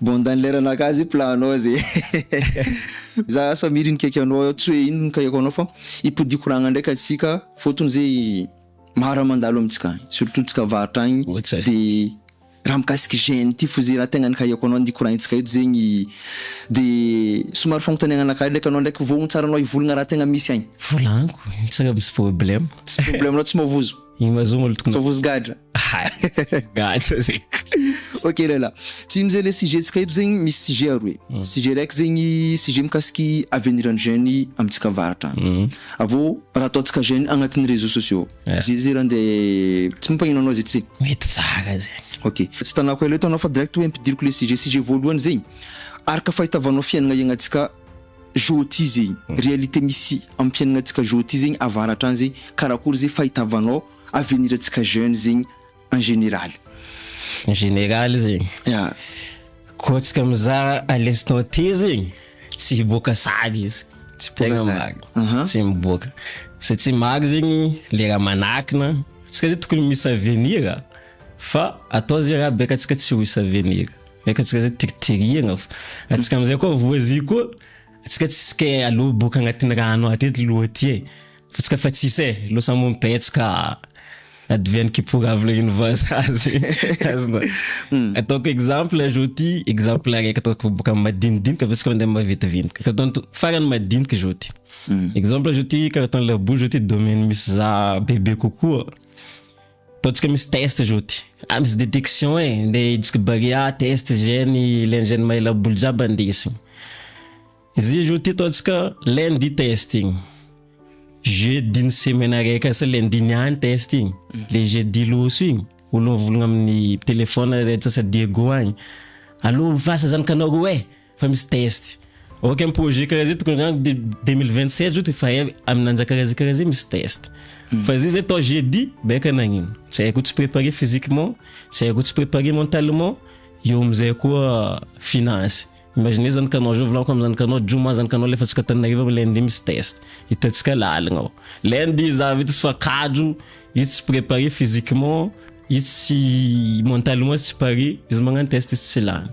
Bon dans l'air anao ka zay plan nao zay za asa mily ny kaiky anao tsy hoe ino ny kaiky anao fa hipodiako ragna ndray ka tsika fotony zay maro mandalo amitsika agny surtout tsika varotra agny de raha mikasiky jeune ty fo zay raha tegna ny kaiky anao ny koragnitsika eto zegny de somary fagnotaniagna anakahy ndreky anao ndreky voahontsaranao hivolagna raha tegna misy agny. Volagniko, tsy misy problème. Tsy problème anao tsy mavozo. Iny mazo molo tokony. Fa vozy gadra. Gadra zay. Ok lehilahy. Tsy mizay le sujet tsika eto zegny misy sujet aroe. Mm. Sujet raiky zegny sujet mikasiky avenir an'ny jeune amintsika avaratra any. Mm. Avô raha ataontsika jeune agnatin'ny réseaux sociaux. Yeah. Zay zay raha nde tsy mampagnino anao zay tsy. Mety tsara zay. Ok. Tsy hitanako ela eto anao fa direct hoe ampidiriko le sujet sujet voalohany zegny araka fahitavanao fiainagna iagnatsika Jôty zegny réalité misy am fiainagnantsika jôty zegny avaratra agny zegny karakory ze fahitavanao avenir antsika jeune zegny en généraly. En généraly zegny. Ya. Koa antsika mizara à l'instant T zegny tsy hiboaka sary izy. Tsy boaka sary. Tegna marigny. Aha. Tsy miboaka. Satria maro zegny le raha manakina, antsika zegny tokony misy avenir fa atao ze raha beka antsika tsy ho hisy avenir. Eka tsika zay tirtirihagna fa atsika amizay koa voazy koa atsika tsisy ke alou boka agnatin'ny rano aty eto loha aty e fa tsika fa tsisy e lo sambo mipetsaka adiviany kiporavina ino vaza azy azonao ataoko exemple azo ty exemple araiky ataoko boka madinidinika fa tsika mandeha maventiventika carton to farany madiniky zao ty exemple zao ty carton labour zao ty domaine misy za bebe kokoa Ataontsika misy test zao ty. Ah misy detection eh, le idiska barea test gène len gène mahaela boly jiaby andesigny. Izy zao ty ataontsika lundi test igny, jeudi ny semaine araiky asa lundi niany test igny, le jeudi loso igny olognovologno amin'ny telephone antsasa Diego agny, allo orinasa zany ka nareo eh! Fa misy test. Ok am projet karaha zay tokony angamba de 2027 zao de fa hay am nanjaka karaha zay karaha zay misy test. Hmm. Fa zay zay atao jeudi baika nagnino. Tsy haiko tsy préparer physiquement, tsy haiko tsy préparer mentalement, eo amizay koa finance. Imaginez zany kanao zao volako am zany kanao joma zany kanao alefatsika Antananarivo am lundi misy test. Hitantsika laligna ao. Lundi za vita tsy fa kajo, izy tsy préparer physiquement, izy tsy mentalement izy tsy parer, izy magnano test izy tsy lany.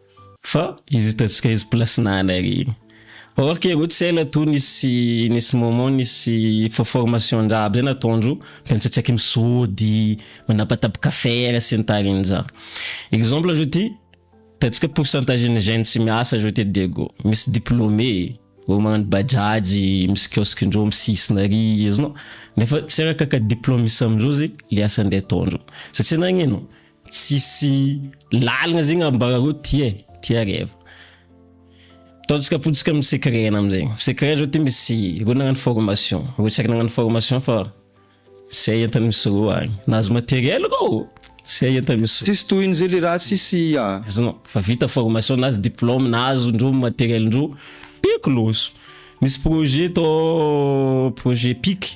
Fa izy hitantsika izy place na anay re iny. Fa or ke ro tsy ela to nisy nisy moment nisy fo formation ndraha aby zay nataondro de nitsatsaiky misôdy manapatapaka affaire sy ny tariny zany. Exemple zao ty hitantsika pourcentage ny jeune tsy miasa zao ty Diego misy diplômé olo magnano bajaj misy kiosque ndreo misisina ary izy no nefa tsy araka ka diplôme misy amindreo zay le asa ndeha ataondreo satria nagnino Tsisy lalina zegny ambarareo tie tie reva ataontsika potsika amin'ny secret-na amizay secret zao ty misy reo nagnano formation reo tsy ary nagnano formation fa zay entany misy reo agny nahazo materiel reo zay entany misy reo Tsisy tohiny zay le raha tsisy ah. Azonao fa vita formation nazy diplôme nahazo ndreo materiel ndreo peko loso misy projet atao projet pic.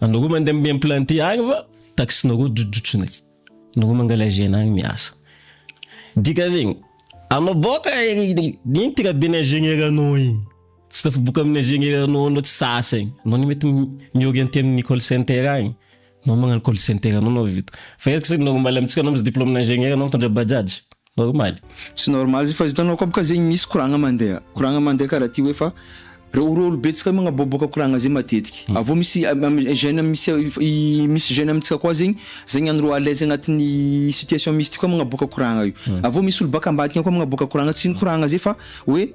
Anareo mandeha mi-implanter agny fa taxinareo jojotsony aty. Anareo mangalazena agny miasa. Dikan'zegny, anao boka ino ty rabe ny ingénieur anao igny? Tsy tafaboaka amin'ny ingénieur anao anao tsy sasa igny. Anao anie mety mi-orienter amin'ny call center agny. Anao magnano call center anao anao vita. Fa eto zany normal amintsika anao misy diplôme-na ingénieur anao mitondra bajaj. normal. Tsy normal zay fa hitanao koa bka zegny misy koragna mandeha koragna mandeha karaha ty hoe fa reo reo olo betsaka magnaboaboaka koragna zay matetiky avy eo misy amy jeune misy misy jeune amintsika koa zegny zegny andro à l'aise agnatin'ny situation misy ty koa magnaboaka koragna io avy eo misy olo baka ambadika koa magnaboaka koragna tsy ny koragna zay fa hoe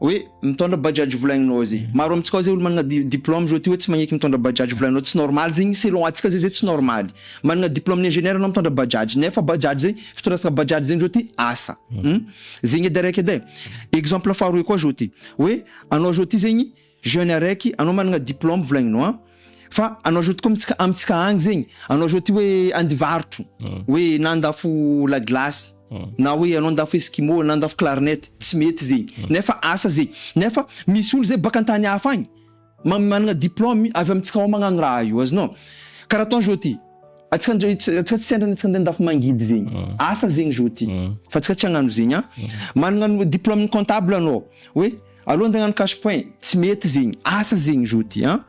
Hoe mitondra bajaj volagninao ao zay. Maro amintsika ao zay olo managna di- diplôme zao ty hoe tsy magneky mitondra bajaj volagninao tsy normal zegny selon antsika zay zay tsy normaly. Managna diplôme ny ingénieur anao mitondra bajaj nefa bajaj zay fitondrasaka bajaj zegny zao ty asa hum zegny edy araiky edy e. Exemple faharoe koa zao ty hoe anao zao ty zegny jeune araiky anao managna diplôme volagninao an. Fa anao zao tokoa amintsika, amintsika agny zegny, anao zao ty hoe andivarotro, hoe na andafo la glace, na hoe anao andafo eskimo, na andafo clarinet, tsy mety zegny, nefa asa zegny, nefa misy olo zay baka an-tany hafa agny, ma- managna diplôme avy amintsika ao magnano raha io, azonao? karaha atao zao ty, antsika ndray ts- antsika tsy sendra antsika ndeha andafo mangidy zegny, asa zegny zao ty, fa antsika tsy hagnano zegny an, managna ny diplôme comptable anao, hoe. Aleo andeha agnano cash point, tsy mety zegny, asa zegny izy ty an!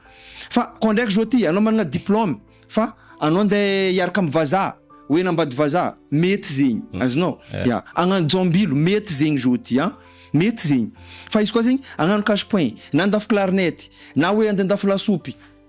Fa koa ndraiky zao ty anao manana diplôme fa anao andeha hiaraka amin'ny vazaha, hoe nambady vazaha, mety zegny, azonao? Ya, hagnano jaombilo, mety zegny izy ty an! Mety zegny, fa izy koa zegny hagnano cash point, na handafo clarinette, na hoe andeha handafo lasopy,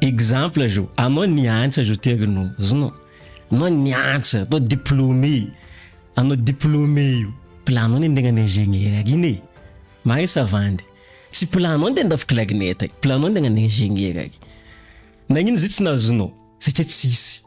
Exemple zao, anao niantsa zao ty ary no zonao, anao niantsa, anao diplômé, anao diplômé io, planao ny handeha hagnano ingénieur iny e, marisa vandy, tsy planao ny handrafy clarinette e, planao ny handeha hagnano ingénieur e, nagnino zay tsy nahazoanao, satria tsisy.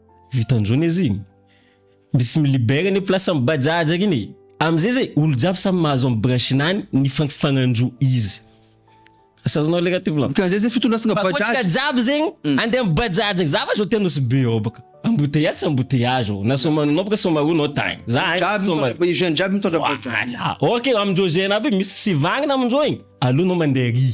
Vitan zao ne zigny. Misy mi libère ne place am bajaj akigny e. Amzay zay olo jiaby samy mahazo am branche-nany ny fagnandro izy. Asazoanao le ratovy lan. Ka zay zay fitondrasagna bajaj. Fa koa tsika jiaby zegny ande am bajaj agny za va zao te anosy be ao baka. Embouteillage tsy embouteillage ô. Na somary anao baka somary io nao tagny. Za agny somary. Jiaby jeune jiaby mitondra bajaj. Voilà. Ok amindreo jeune aby misy sivagnina amindreo igny. Aleo nao mande ary.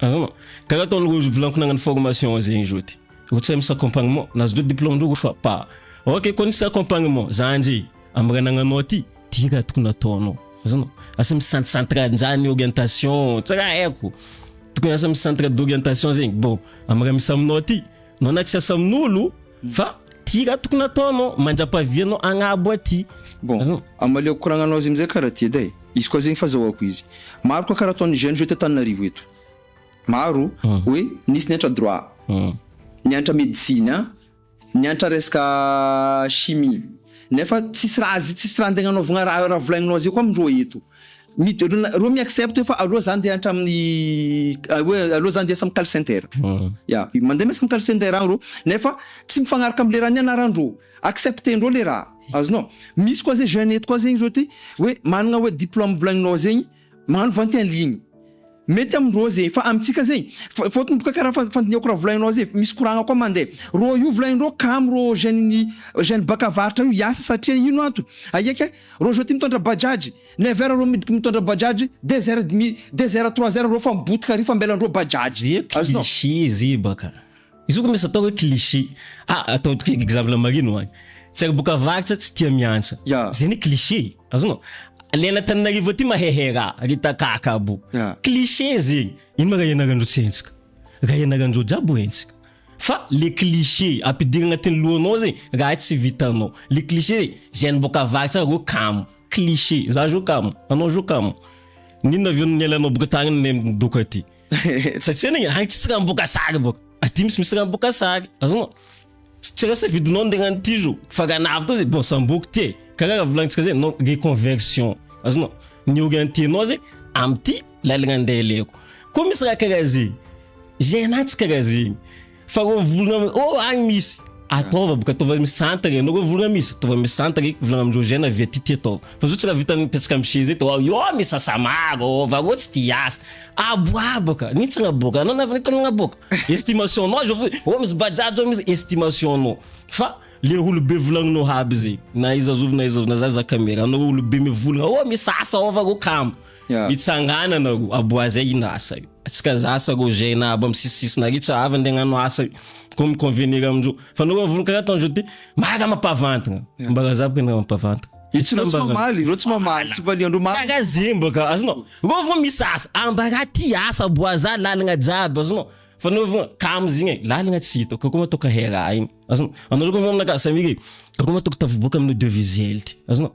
Azonao. Karaha ataon'ireo ozy volanko nagnano formation azy regny zao ty. Ro tsy hay misy accompagnement. Na azondreo diplôme-ndreo ro fa pa. Ok koa nisy accompagnement. Za ndre. Amy raha nagnanao ty. Ty raha tokony ataonao. Azonao. Asa misy centre central ndrany orientation. Tsy raha haiko. Tokony asa misy centre d'orientation zegny. Bon. Amy raha misy aminao ty. Nao na tsy asa amin'olo. Fa ty ra tokony ataonao mandrapavianao agnabo aty. Bon, amaleoko koragnanao azy amizay kara ty eda e. Izy koa zegny fazahoako izy. Maro koa kara ataon'ny jeunes eto Antananarivo eto. Maro hoe nisy niantra droit, niantra medecine, niantra resaka chimie. Nefa tsisy raha tsisy raha antegna anaovagna raha volagnanao azy eo koa amindreo eto. Midorona, roa mi-accept eo fa aleo za ndeha hatramin'ny hoe aleo za ndeha asa amin'ny call center. Ya, mandeha miasa amin'ny call center aho ro nefa tsy mifagnaraka am'le raha nianarandreo, accepter-ndreo le raha. Azonao? Misy koa zay jeune eto koa zegny zao ty hoe managna hoe diplôme volagninao zegny, magnano vente en ligne. Mety am rô ze fa amitsika ze fa fôtony boka kara fa fandinihako ra volainao ze misy koragna koa mande rô io volainrô kamo rô jeune ny jeune baka avaratra io hiasa satria ino antony aieke rô zao ty mitondra bajaj never rô midiko mitondra bajaj deux heure demi deux heure trois heure rô fa mibotika ary fa ambelany rô bajaj azonao. Tsy hisy izy baka Izy io ko misy atao hoe cliché. Ah atao toky exemple marina ho any. Tsy ary boka avaratra tsy tia miantsa. Ya. Zay anie cliché e. Azonao? Le any Antananarivo aty mahehe ra, ry takaka abo. Ya. Cliché zegny. Ino ma ra ianarandreo tsy henjika? Ra ianarandreo jiaby ho henjika. Fa le cliché ampidiry agnatin'ny lohanao zegny raha tsy vitanao. Le cliché zegny, zay any boka avaratra any reo kamo. Cliché. Za zao kamo. Anao zao kamo. N'inona avy eo ny nialanao boka tagny ndeha midoko aty? Satria ny any tsisy raha miboaka sary boka. Aty misy misy raha miboaka sary. Azonao? Tsy raha safidinao ny tegna ty zo. Fa raha nahavita zay bon samboky ty e. Karaha raha volagnintsika zay non reconversion. Azonao? Ny orientenao zay amty lalagna andeha aleko. Koa misy raha karaha zegny. Iainantsika raha zegny. Fa reo volona mi- oh agny misy. Ataova boka ataova misantagna ianao reo volona misy. Ataova misantagna eky volagna amindreo jeune avy aty ty ataova. Fa zao tsy raha vita mipetraka am seza eto ao io misy asa maro ô fa reo tsy tia asa. Aboabo ka, nihintsagna boka, anao navy nitagnagna boka. Estimation nao zao fohy, ô misy bajaj ô misy estimation nao. Fa le olobe volagninao aby zay, na iza zovy na iza zovy na za za camera, anao olobe mivolagna ô misy asa ao fa reo kamo. Mitsangana nareo aboaha zay ino asa io tsy ka za sa rô zay na abo am sisisisy nareo tsy avy nde agnano asa io ko mi convenir amindreo fa nareo avory kara ataon dreo ty mara mapavantagna ambara za baka ny raha mapavantagna Tsy reo tsy mamaly, reo tsy mamaly, tsy valiandreo mamaly. Kara zegny baka azonao, reo vo misy asa, ambara ty asa aboaza lalagna jiaby azonao, fa nareo vo kamo zegny e, lalagna tsy hitako ka koa matoa ka hera igny azonao, anareo ko vo aminakahy samira e, ka koa matoa ko tafiboaka amina devizy hely ty azonao,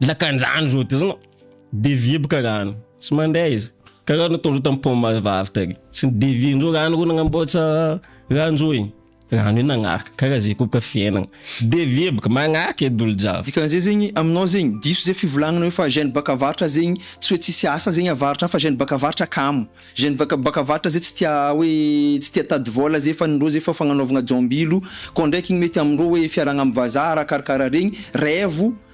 Lakandrano izao dia izao dévier boka rano tsy mandeha izy karaha nataondreo tamin'ny pont marivavy tary tsy ny dévier ndreo rano reo nanamboatra rano zao igny rano io nagnaraka karaha zay koa boka fiainagna dévier boka magnaraka edy olo jiaby. Dikan'izay zegny aminao zegny diso zay fivolagnana hoe fa jeune baka avarotra zegny tsy hoe tsisy asa zegny avarotra fa jeune baka avarotra kamo jeune vaka baka avarotra zay tsy tia hoe tsy tia tady vola zay fa ny ndreo zay fa fagnanaovagna jaombilo koa ndraiky igny mety amindreo hoe fiarahagna amy vazaha raha karakaraha regny raivo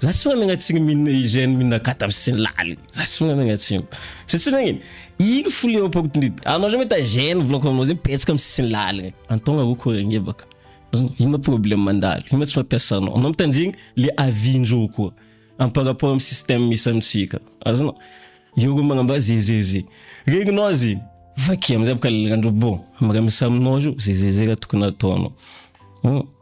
Za tsy managna tsiny min hygiène min akata aby sy ny laly za tsy managna tsiny satsia nagnino ino fo le opportunité anao zao mahita gène volako aminao zay mipetsaka am sisiny laligny antogna o ko agnebaka azony ino ma problème mandalo ino ma tsy mampiasa anao anao mitandregny le avis ndreo koa am par rapport am système misy amitsika azonao eo ko magnamboa zezeze regninao azy igny vakia amizay boka lalandro bon am raha misy aminao zao zezeze raha tokony ataonao.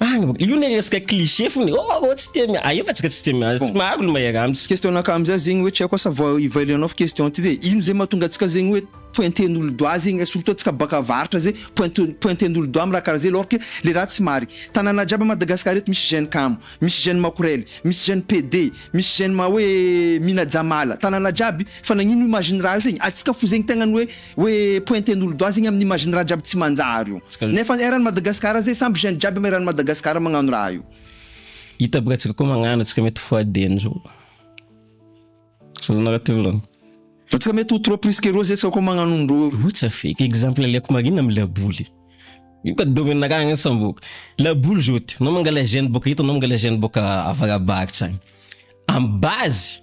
Any bôka. Io le resaka cliché fona e. Oh, oh, tsy tia miady. Aia fa tsika tsy tia miady. Tsy maro olo mahery amintsika. Question nakà amzay zegny hoe tsy haiko asa vao evaluer anao fa question ty zay ino zay mahatonga antsika zegny hoe pointen'olo doigt zegny eh, surtout antsika baka avaratra zay pointe pointen'olo doigt am raha karaha zay alors que le raha tsy mari tanàna jiaby a Madagascar eto misy jeune kamo, misy jeune makorely, misy jeune PD, misy jeune ma hoe mihina jamala, tanàna jiaby fa nagnino imagine raha io zegny, antsika fo zegny tegna ny hoe Hoe pointer n'olo doha zegny amn imagine raha jiaby tsy manjary io. Nefa eran Madagascar zay samby jeune jiaby am eran Madagascar magnano raha io. Hita aby raha tsika koa magnano tsika mety ho adn zao. Sazana raha ty volagny. Raha tsika mety ho trop plus que roa zay tsika koa magnano ndro io. Io tsa fake. Exemple aleoko marigny am laboly. Io ka domaine raha agny samboka. Laboly zao ty. Anao mangala jeune boka eto anao mangala jeune boka avarabaratra agny. Am base.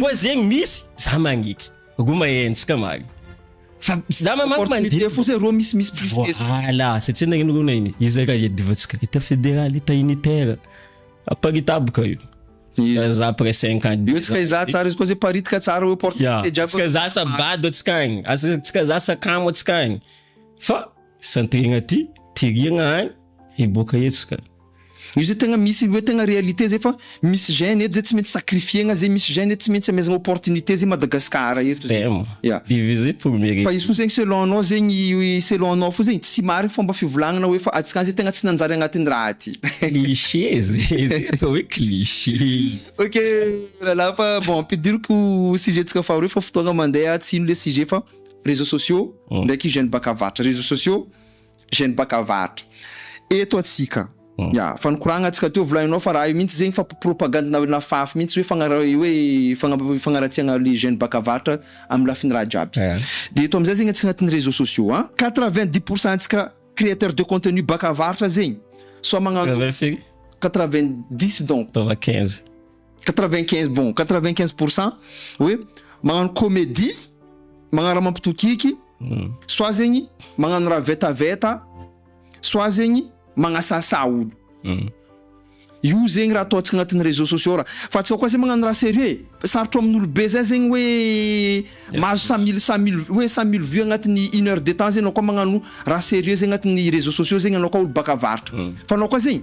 Koa zegny misy za magniky roa mahenjika magny fa za ma manko mandinika fo zay roa misy misy plus tetsy voilà satria nagnino roa nagnino izy raha le divantsika état fédéral état unitaire aparitaboka io Za za après 5 ans Io tsika izaha tsara izy koa zay paritika tsara hoe porte ya jiaby tsika za sa bado tsika agny Asa- tsika za sakamo tsika agny fa Santegna ty tiriagna agny hiboaka etsy ka. Io zay tegna misy hoe tegna réalité zay fa misy jeune eto zay tsy maintsy sacrifier-gna zay misy jeune eto tsy maintsy amezagna opportunité zay Madagascar eto zay ya Diviser pour mieux fa izy fo zegny selon anao zegny selon anao fo zegny tsy marigny fomba fivolagnana hoe fa atsika any zay tegna tsy nanjary agnatin'ny raha ty. Cliché zay zay atao hoe cliché. Ok, Ralà fa bon ampidiriko sujet-tsika faharoa fa fotoagna mandeha tsy hino le sujet fa. réseaux sociaux ndraiky jeune bakavartra réseaux sociaux jeune bakavartra eto atsika ya fa nikoragna atsika teo volaninao fa raha io mintsy zegny fa propagande na nafafy mintsy hoe fagnara hoe fagna- fagnaratsiagna le jeune bakavartra amy lafiny raha jiaby Eh. de eto amizay zegny atsika agnatin'ny réseaux sociaux an quatre vingt dix pour cent ntsika créateur de contenu bakavartra zegny soit magnano Travers firy? quatre vingt dix donc Taova quinze. 95 bon 95 pour cent hoe magnano comédie magnara mampitokiky hmm. soit zegny magnano raha vetaveta soit zegny magnasasa olo hmm. io zegny raha ataontsika agnatin'ny réseaux sociaux raha fa tsy aoka zay magnano raha sérieux e. sarotro amin'olobe zay zegny hoe mahazo cent mille cent mille hoe cent mille vues agnatin'ny une heure de temps zegny anao koa magnano raha sérieux zegny agnatin'ny réseaux sociaux zegny anao koa olo baka avaratra hmm. fa anao koa zegny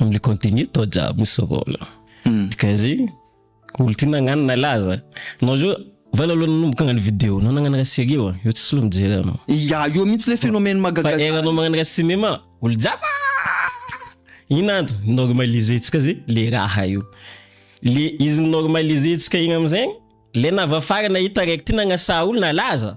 amle continue tao jiaby misy rôle hmm. dikaizegny olo ty nagnano nalaza nao zao vala aloha nanomboka agnano video nao nagnano raha serie oa eo tsisy lo mijery anao ya io mihitsy le phénomène magagafa era nao magnano raha cinéma olo jiaby ino anto normalisentsika zay le raha io le izy normalisentsika igny amizegny le navafara nahita raiky ty nagnasaha olo nalaza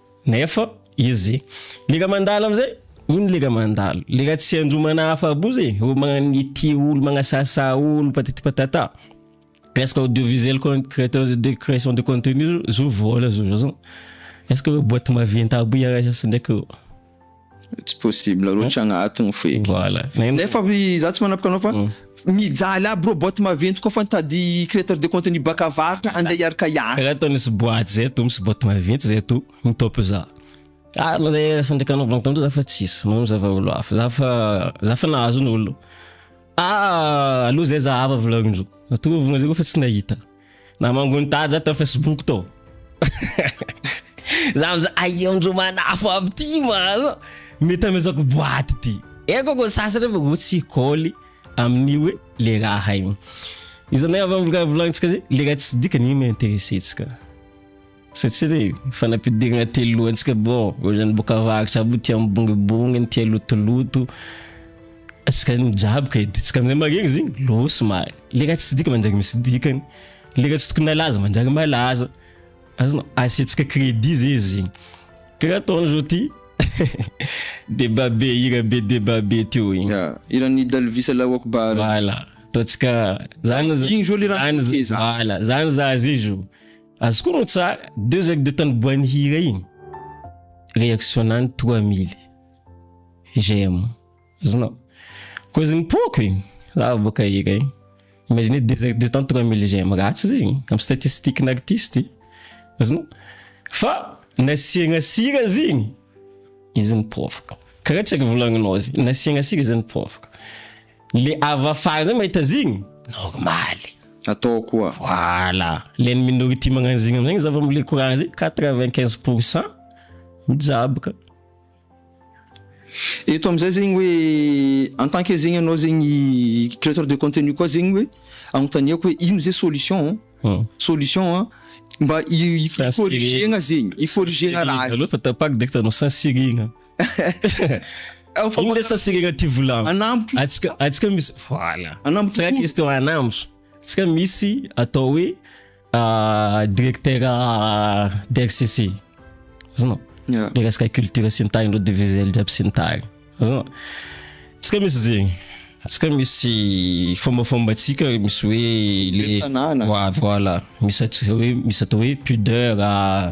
Nefa izy leka mandalo amizay iny leka mandalo leka tsy andro manahafa boza e olo magnanity olo magnasasa olo patati patata est-ce que audiovisuel créateur de création de contenu zo vola zo zao est-ce que boîte maventy aby iaraha sasy ndraiky eo Tsy possible roatra agnaty ny feky. Voilà. Nefa za tsy manapaka anao fa mijaly aby reo boîte maventy koa fa nitady créateur de contenu baka avaratra andeha hiaraka hiasa. Karaha ataon'izy boîte zay to misy boîte maventy zay to ny top za. Ah ma zay asa ndraiky anao blanc tandroy za fa tsisy manao zava olo hafa za fa za fa nahazo ny olo. Ah alou zay za hava volagnindreo. Atovogno zay koa fa tsy nahita. Namango ny tady za tao Facebook tao. za mza aionjo manafo aby ty maza. Mety amezako boaty ty. Eko ko sasany fa go tsy koly amin'ny hoe le raha igny. Izanay avy amin'ny raha volagnitsika zay, le raha tsy dikany igny no interessentsika. Satria re fanampidirana telo lohantsika bro ohatrany boka avaratra aby tia mibongibongy ny tia lotoloto atsika ny jiaby ka editsika amizay maregny zegny losy mara le raha tsy dika manjary misy dikany le raha tsy tokony alaza manjary malaza azonao asiatsika credit zay izy zegny karaha ataony zao ty debat be hira be debat be teo igny Ya, hiran'i Dalvis Allahu Akbar. voilà ataontsika zany Igny zao le raha zany fehezahana. voilà zany za zay zo Azy koa no tsara, deux heures de temps niboahan'ny hira iny, reaction-nany trois mille j'aime, azonao? Koa izy nipoaka e, za boka hira iny, imaginez deux heures de temps trois mille j'aime, ratsy zay e, am statistique-n'artiste, azonao? Fa nasiagna sira izy iny, izy nipoaka, karaha tsy ary volagninao izy, nasiagna sira izy nipoaka, Le avy afara zay mahita zigny, normaly. Atao koa. Voilà. Le ny minority magnano zigny amizay zava mile courant zay quatre vingt quinze pour cent mijaboka. Eto amizay zegny hoe en tant que zegny anao zegny createur de contenu koa zegny hoe agnontaniako hoe ino zay solution an? Solution an mba hi-corriger-gna zegny, hi-corriger-gna raha zay. Fa tapaka de efa hitanao sansirigna. Iny le sasy regna ty volagno. Anambo. Atsika atsika misy voilà. Anambo. Tsika question anambo. Tsika misy atao hoe ah, directeur ah, DRCC. Azonao? Yeah. Le resaka culture sy ny tariny reo devizely jiaby sy ny tariny. Azonao? Tsika misy zegny. Tsika misy fombafombantsika misy hoe le Tanàna. Wa- voilà. Misy atsika hoe misy atao hoe pudeur ah,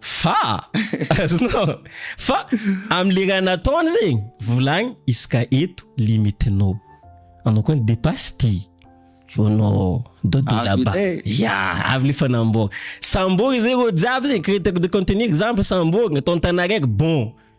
Fa azonao fa amle raha nataony zegny volagny izy ka eto limitinao anao koa ny depasse ty io anao dodo Avy laba le. ya avy le fanamboara sambory zay reo jiaby zegny créateur de contenu exemple sambory atao an-tana araiky bon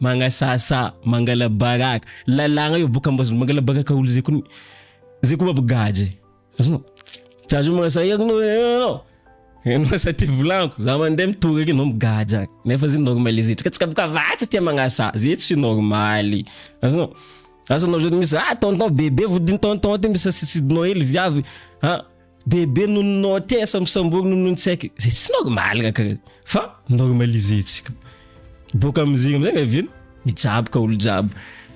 Magnasasa, mangalabaraka, lalàgna io boka mba mangalabaraka olo zay koa zay koa aby gadra e. Azonao? Tsy azo magnasasa iako no enao. Enao sa ty volanko, za mandeha mitory akeo no migadra. Nefa zay normaliser. Tsika tsika boka vatra tia magnasasa, zay tsy normaly. Azonao? Asa anao zao misy ah tonton bebe vodiny tonton ty misy sidinao hely viavy. Ha, Bebe noho ny note asa misamborina noho ny tsy haiko izay tsy normal kaka fa normalisentsika. Boaka amin'izay amin'izay nga vino mijaboka olo jiaby.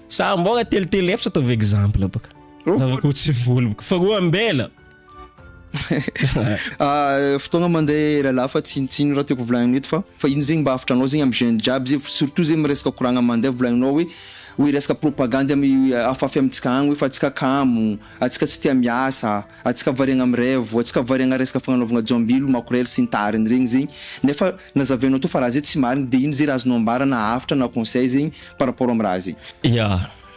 Sambora telo telo efatra ataovy exemple baka. Oh. Zavako tsy voly baka fa roa ambela. Ah, fotoagna mandeha lalahy fa tsinotsino raha tiako volagnina eto fa fa ino zegny mba hafatra anao zegny amy jeune jiaby zegny f- surtout zegny miresaka koragna mandeha volagninao hoe hoe resaka propagandy amy afafy amintsika agny hoe fa antsika kamo, antsika tsy tia miasa. Atsika variagna am rêve, atsika variagna resaka fagnanaovagna jombilo, makorely sy ny tahariny regny zegny, nefa nazavainao tô fa raha zay tsy marigny de ino zay raha azonao ambara na hafatra na conseil zegny par rapport am raha zay. Ya,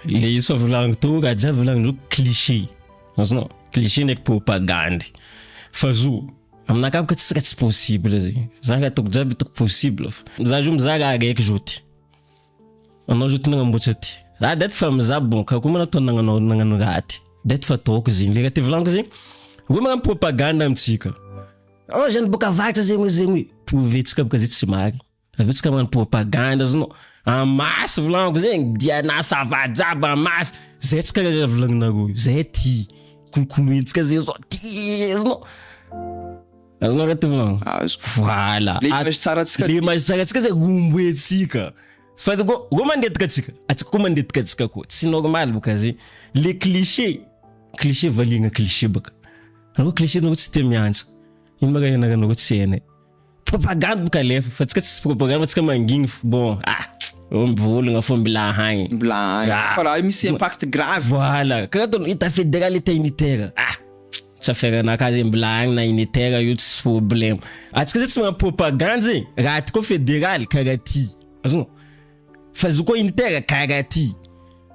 le izy fa volagniko tô raha jiaby volagniny reo cliché, azonao, cliché ndraiky propagandy, fa zo aminakahy bôka tsisy raha tsy possible zegny, za raha ataoko jiaby ataoko possible fa za zo mizaha raha araiky zo ty, Anao zao ty nagnamboatra ty. Ah date fa mizaha bon ka koa manao nagnanao nagnano raha ty. Date fa ataoko zegny le raha ty volaniko zegny. Hoe magnano propagande amintsika. Anao zany boka avaratra zegny hoe zegny hoe prouver tsika boka zay tsy marigny. Avy eo tsika magnano propagande zany anao. En masse volaniko zegny dia na ça va jiaby en masse. Zay tsika raha volagninareo io. Zay ty. Kolokolointsika zegny zao ty zany anao. Azonao reto va? Azoko. Voilà. Le image tsarantsika. Le image tsarantsika zay omboentsika. Fa go go mandetika atsika. Atsika ko mandetika atsika ko. Tsy normal boka zay. Le cliché. Cliché valiagna cliché baka. Anao cliché anao tsy te miantsa. Ino ma raha ianaranareo tsy hainay. Propagande boka alefa fa tsika tsisy propagande tsika mangigny fo. Bon ah oh mivolagna fo mbola hagny. Mbola hagny. Fa raha misy impact grave. Voilà. Karaha ataonao état fédéral état unitaire. Ah. Tsaferana ka ze mbola agny na in eter io tsy problème. Atsika zay tsy magnano propagande zegny. Raha aty koa federaly karaha ty. Azonao? Fa izy io koa unitaire karaha ty.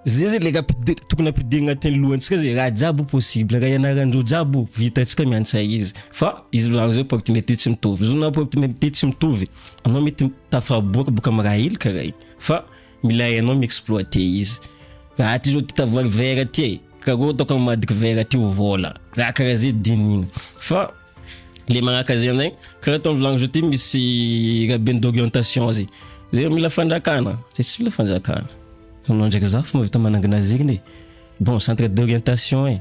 Zay zay le raha pide- tokony ampidirigna agnatin'ny lohantsika zay. Raha jiaby io possible, raha ianaran-dreo jiaby io, vita antsika miantsa izy. Fa izy volagny zay opportunité tsy mitovy. Izy io na opportunité tsy mitovy, anao mety tafaboaka boka amy raha hely karaha igny. Fa. Milay anao mi exploite izy. Raha ty zao ty tavoahangy verre ty e, karoro ataoko am madiky verre ty ho vola. Raha karaha zay dinihina. Fa le magnaka zay amzay, karaha to am vilagny zao ty misy raben d'orientation zay. Zay mila fanjakana, zay tsy mila fanjakana. Anao ndraiky zaho fa mahavita manangina zegny e. Bon centre d'orientation e.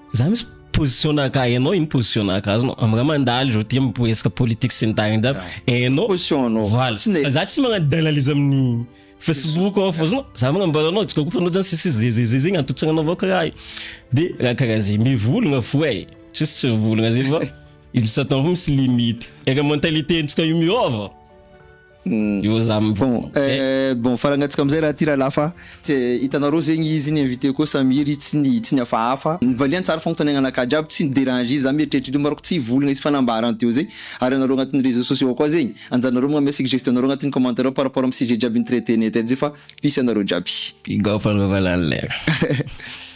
Za misy position naka hainao ino position naka azonao am ra mandalo zao ty am resaka politique sy ny tariny zany hainao position anao voilà za tsy magnano d'analyse amin'ny facebook ao fa azonao za magnambara anao tsy koko fa anao zany sisy zezezeze zegny antotsagna avao karaha io de raha karaha zegny mivolagna fo e juste tsy mivolagna zegny fa izy satan fo misy limite eka mentalité ntsika io miova. Io za mi Bon eh bon faragnantsika amizay raha ty rahalahy fa tsy hitanareo zegny izy ny invité ko samy iry tsy ny tsy ny hafahafa nivaliany tsara fagnontaniagna anakahy jiaby tsy ni déranger izy za mieritreritra izy io manko tsy hivolagna izy fa nambarany teo zay ary anareo agnatin'ny réseaux sociaux koa zegny anjaranareo magname suggestion nareo agnatin'ny commentaire ao par rapport amin'ny sujet jiaby ni traiter-nay teto zay fa peace anareo jiaby. Big up anao valala eh.